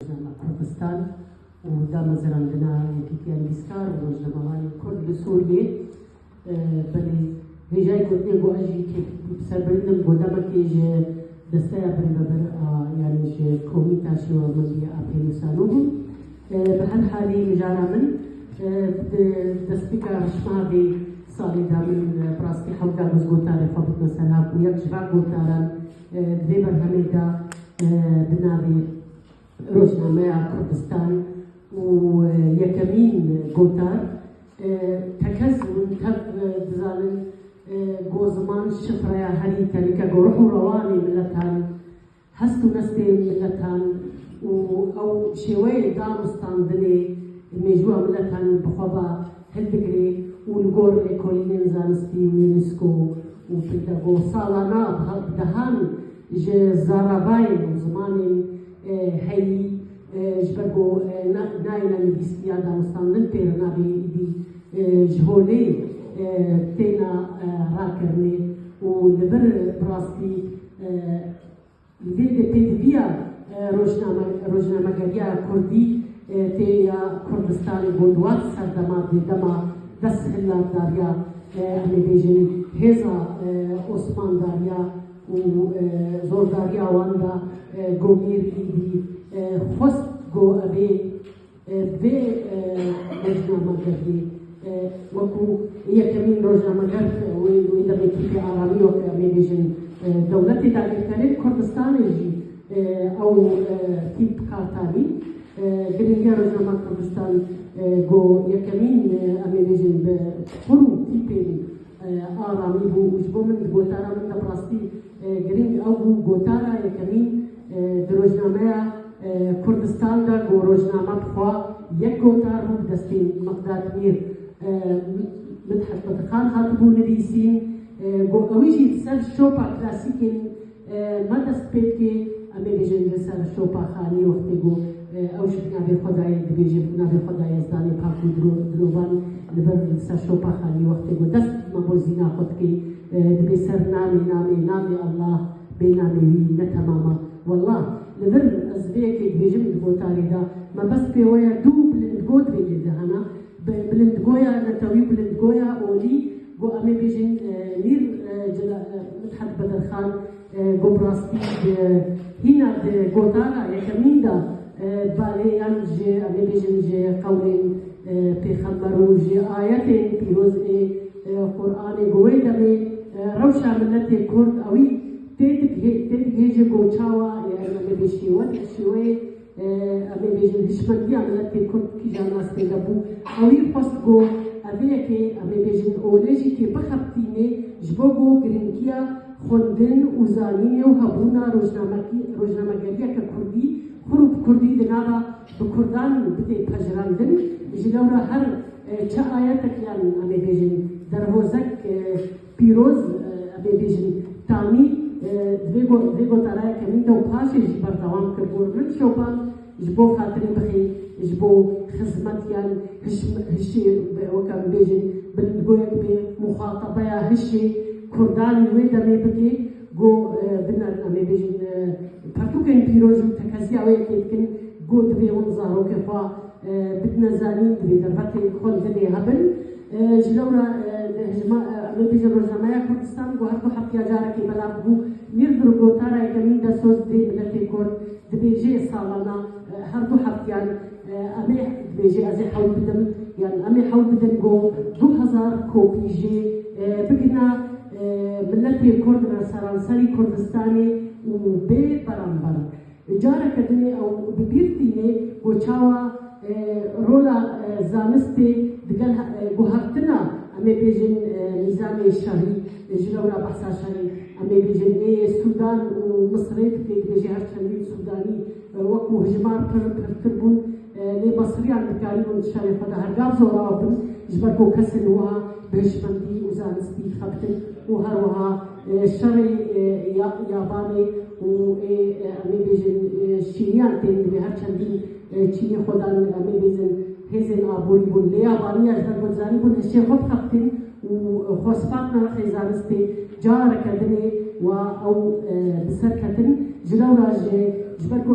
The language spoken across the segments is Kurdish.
Rojname Kurdistan û damezrandina Yekîtiya Nivîskar û Rojnamevanên Kurd li Sûriyê belê hêjayî gotinên ku ez jî kêfî bi ser bilind im ku demekê ji desteya birêvebir a yanî ji Komîta Şêwemendî ya Apê nûsanû bû. Bi her halî mijara min di destpêka rişmeha vê salê de min bi rastî hewt da biz gotarê xwe bikin ser ha ku yek ji van gotaran Di vê berhemê de bi navê Rojnameya Kurdistan û yekemîn gotar tekez bûn tev dizanin ku ziman şifreya herî tenike ku ruh û rewanê miletan, hest û nestê miletan û ew şêweyê danûstandinê mêjoa miletan bi xwe ve hilbigire û li gor lêkolînên zanistî û Unesco û Pentago salana bidehan ji zarabayên û zimanên heyî ji ber ku nayêna nivîsîtiya danûstandin tê li navê êdî ji holê têna rakirinê û li vir bi rastî Li vê de pêdiviya rojnamegeriya kurdî tê ya Kurdistanê bo di wan serdema dê dema desthilaldariya em ê bêjin hêza osmandariya û zordariya wan da gomîr îdî xwest ku ev ê Vê rojnamegerdî wekû yekemîn rojnamegerd wê demê tîpê aramiyo ke em ê bêjin dewletê dagirkerên Kurdistanê jî ew tîp bi kar tanî. Girîngiya Rojnama Kurdistan go yekemîn em ê bêjin bi xur û tîpên aramî bû û ji bo min di gotara min de bi rastî Girîng ew bû gotara yekemîn di rojnameya Kurdistan de ku rojname bi xwe yek gotar bû bi destên Miqdat Mîr û Midhet Qedixan hatibû nivîsîn ku ewî jî li ser şopa klasîkên me dest pê dike, em ê bêjin li ser şopa xanî wextê ku ew ji bi navê Xwedayê dibêje bi navê Xweda Yezdanê pak û dirovan li vir li ser şopa xanî wextê ku dest me bo zîna xwe dike, Dibê ser namê namê namê Allah bê namê wî ne temama. Wallah li vir ez vê yekê dibêjim di gotarê de mebest pê we ye dû bilindgo divê lê de hena bi bilindgoya netewî bilindgoya olî go emê bêjin mîr cela Midhet Bedirxan Ku bi rastî di hîna di gotara yekemîn de balê yan ji em ê bêjin ji qewlên pêxember û ji ayetên pîroz ê Quranê ku wê demê rewşa miletê Kurd ewî tê digihêje ku çawa yan em ê bi şêwek şêweyê Em ê bêjin hişmendiya miletê kurd kîjan astê de bû. Ewî xwest ku ev vê yekê em ê bêjin olê jî kê bixebitînê ji bo ku girîngiya xwendin û zanînê û hebûna rojnamegeriyeke kurdî xwir û bi kurdî di nava bi kurdan bidê pejirandin. Ji lewra her çi ayetek yan em ê bêjin derhozek, Pîroz ebê bêjin Tamî vê gotaraya kemîn de û paşê jî berdewam kir got, Min Şoban ji bo xatirê bixî ji bo xizmet yan hişê weke bibêjin bilindgoyek bê muxatabeya hişê kurdanî wê demê bike ku em ê bêjin pertûkên pîroz û tekeziya wê yekê dikin ku divê hûn zarokê xwe bidine zanîn, divê dervekê xwe li dilê hebin. Ji lewra rêbêjên Rojnameya Kurdistan got ku heftya carekê belav bû. Mîrdir gotara yekemîn de soz dê miletê kurd, dibêje salana her du heftiyan em ê dibêje ez ê hewl bidim yan em ê hewl bidin ku du hezar kopî jê bigihna miletê kurd re seranserî Kurdistanê û bê beramber. Careke din ê ew bi bîr tîne ku çawa rola zanistê digel guhertina em ê bêjin nîzamê şahî ji lewra behsa şerê em ê bêjin ê Sûdan û Misirê dike, dibêje her çendîn Sûdanî wekû hijmar pir pirtir bûn lê Misiriyan dikarîbûn şerê xwe de hergav zorabin ji ber ku kesên wiha bi hişmendî û zanistî xebtin û her wiha Şerê yabanê û em ê bêjin çîniyan tên divê her çendî çînî xwe dan em ê bêjin hêzên aborî bûn. Lê yabaniya ji ber guhdarî bûn hişê xwe bixebitîn û xwe spat nirxê zanistê careke din ê wa ew bi ser ketin. Ji lewra jî ji ber ku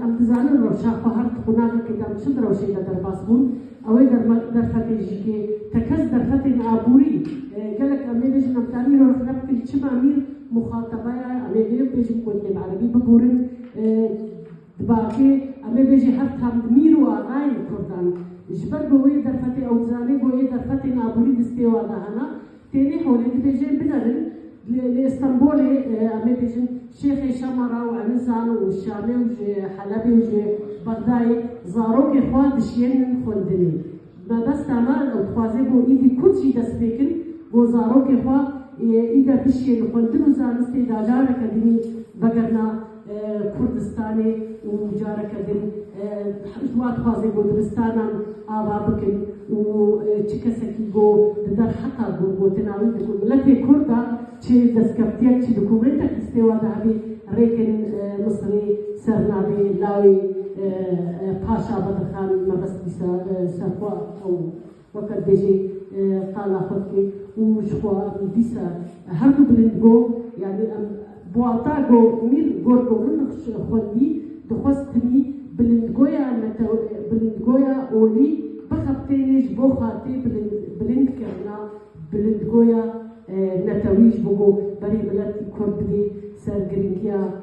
em dizanin rewşa xwe her di qûnaxekê de em çi di rewşê de derbas bûn, Ew ê derfetên jî kê tekez derfetên aborî gelek em ê bêjin em karî îro rexne bikin çima amîr muxatebeya em ê vê bêjin ku divê bi erebî biborin di bakê em ê bêjê her tam di mîr û axayên kurdan ji ber ku wê derfetê ew dizanê ku ê derfetên aborî distê wan de hene. Tenê holê dibêje binerin li li Îstanbûlê em ê bêjin Şêxê Şama ra û Enizan û Şamê û ji Helebê û ji Bexdayê zarokê xwe dişiyênin xwendinê. Mebesta me ew dixwaze bo îdî Kurd jî dest pê kin bo zarokê xwe îde bişiyê li xwendin û zanistê da careke dinî vegerna Kurdistanê û careke din ji wan dixwaze ku dibistanan ava bikin û çi kesekî ku di derheta gotina wî di ku miletê kurd de çi destkeftiyek çi dokumentek di stêwa de hebî rêkin Misirê ser navê lawê Paşa vedixan mebest bîsa ser xwe ew Weke dibêje qala xwe dike û ji xwe dîsa hemû bilind got, Yanî em bi wata go mîr got ku min xwendî dixwest tenî bilindgoya bilindgoya olî bixebitê lê ji bo xatê bilindkirina bilindgoya netewî ji bo ku berê miletî kurd bidê ser girîngiya